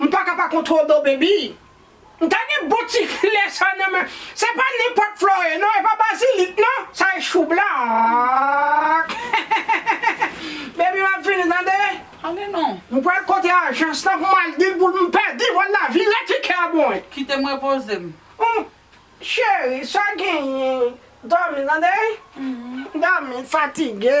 M paka pa kontrol do baby. M ta gen bon ti flè sa nan men se pa nenpòt flore non e pa bazilik non sa e choublak baby map vini tande Ale non. M pral kote ajans lan pou m al dil pou l m pèdi vòl la vire tikè a pou mwen. Kite m repoze m. Humm cheri sa genyen dòmi tande dòmi fatige.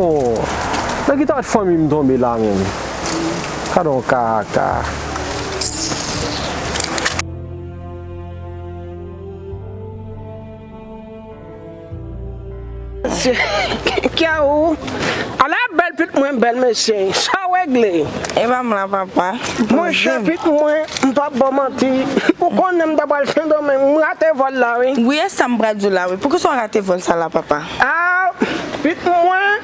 Oh nan ki tayt fanmi m tonbe la menm gadon kaka. Kyawou ala bèl pit mwen bèl mesye sa regle. Epa m la papa. Monchè pit mwen m pap baw manti ou konnen m ta pral sendomeng m rate vòl la wi. Wi esa m pral diw la wi poukisa w rate vòl sa la papa. Aah pit mwen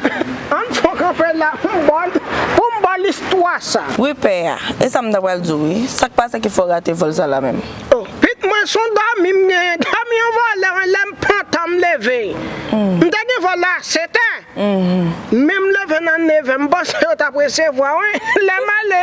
an fon kanpe la poum baw poum baw listwa sa. Wi pè a, e sa m ta pral di w wi, sa k pase ki fè w rate vòl sa la menm? Oh pit mwen son dòmi m genyen, dòmi yon vòlè wi lè m pantan m leve m te gen vòl a setè men m leve nan nevè m panse yo t ap resevwa wi lè m ale.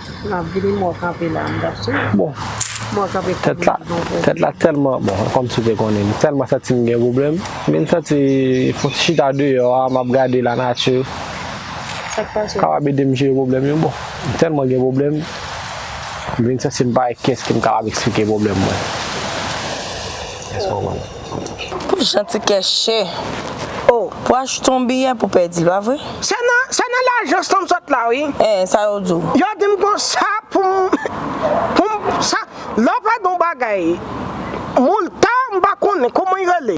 Map vini mwen kanpe la mwen tap swiv bon mwen kanpe pou mwen di bon pou. Tèt la tèlman bon kòm si te konnen li tèlman santi m gen pwoblèm m vin santi fon ti chita deyò a map gade la nati Sak pase la kapab edem jere pwoblèm yo bon m tèlman gen pwoblèm m vin santi m pa wè kiyès ki m kapab eksplike pwoblèm mwen. Pou janti kè chè oh. Pou achte yon biyè pou pèdi l pa vre. Se nan se nan lajans lan m sot la wi. Hein sa yo di w. Yo di m konsa pou m pou m sa lè w pèdi yon bagay Moulta m pa konnen kouman y rele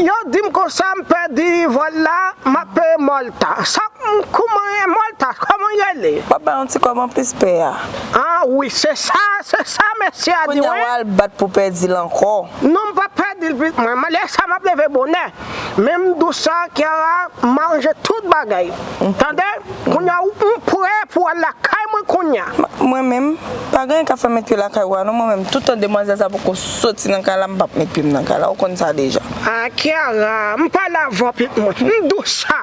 yo di m konsa m pèdi vòl la m ap peye Mòlta sa m kouman e Mòlta kòman y rele. W ap bay yon ti kòb anplis pè a. Ah wi se sa se sa mesye a di wi. Kounya w al bat pou pèdi l ankò. Non m pap pa dil plis mwen lè sa map leve bonè menm dous sa Kiara manje tout bagay tande kounya ou prè pou al lakay mwen kounya. Mwen menm pa gen anyen kap fèm met pye lakay ou a non mwen menm toutan demwazèl sa poko soti nan kay la m pap met pyem nan kay la ou konn sa deja. Ah Kiara m pale avèw plis mwen m dous sa.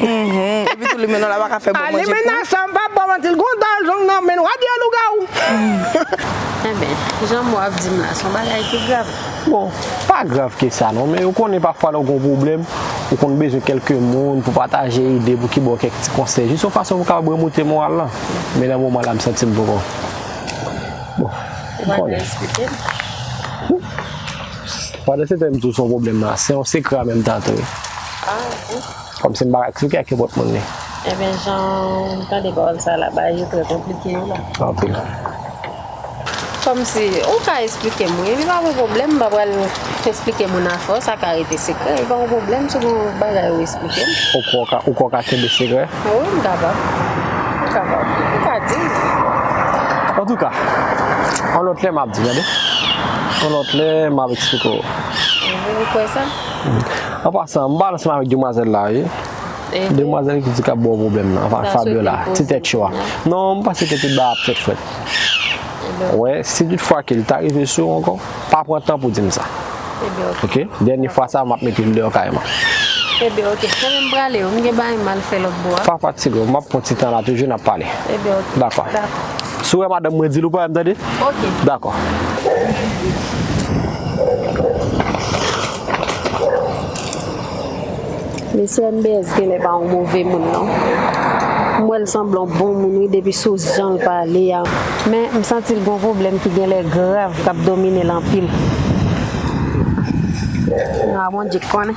Epitou limenna pa ka fè bon manje pou. Limenna sa m pa bon manti l gon dal zong nan men l wa di yo lougawou. Enben, jan mo a ap di m la, s on bagay ki grav. Bon, pa grav ke sa non, men ou konnen pafwa lè ou gon pwoblèm, ou konn bezwen kèlke moun pou pataje ide, pou ki ba w kèk ti konsèy, jis yon fason pou kapab remoute moral lan. Men nan moman la m santi m poko. Bon, m konnen. Ou pa vle esplike m? Pandan se tan m di w s on pwoblèm nan, se yon sekre an menm tan tou. Ah, bon. Kom se m pa ka klike ak kibot moun li. Ebyen janw tande pawol sa la bagay yo trè konplike wi la. Anpil. Komsi ou ka esplike m wi li pa gon pwoblem m pa pral esplike moun a fo sa ka rete sekrè li pa gon pwoblem si gon bagay ou esplike m. Ou kwè ou kwè w ka kenbe sekrè? Wi m kapab m kapab ou ka di m. Antouka yon lot lè map di w tande yon lot lè map esplike w. Ou kwè sa? An pasan, m pa al ansanm avèk demwazèl la wi. Demwazèl ki di k ap ba w pwoblèm nan, avèk Fabiola, ti tèt cho a. Non, m panse ke tout bagay ap fèt frèt. Ou wè, si tout fwa ke li ta rive sou w ankò, pa pran tan pou di m sa. Ok? Dènye fwa sa a, m ap mete l deyò kay mwen. Pa fatige w, m ap pran ti tan la toujou, n ap pale. Dakò. Si w wè madanm mwen, di l ou pa wè m tande? Dakò. Mesye MBS genlè pa yon move moun non. M wè l sanble yon bon moun wi depi sou jan l pale a. Men m santi l gen yon pwoblèm ki genlè grav k ap domine l anpil. Bon Dye k konnen.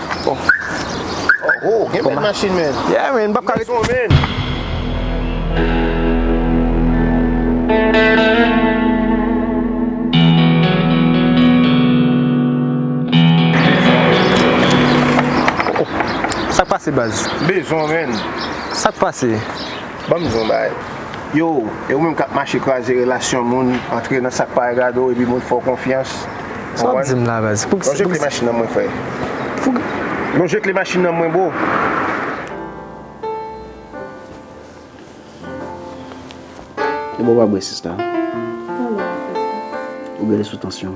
Oh, gen bèl machin men. Yeah men, bab kare. Son men. Sak pase baz? Bezon men. Sak pase? Ban m di w yon bagay. Yo, e ou menm k ap mache kraze relasyon moun, antre nan sa k pa regade w epi moun fè w konfyans. Ou konprann? Sa w ap di m la baz? Pou ki sa? Lonje kle machin nan mwen frè. Pou ki? Lonje kle machin nan mwen bro. Ebyen w pa bwè sista? Mwen bwè yon ti sou. Ou bwè li sou tansyon?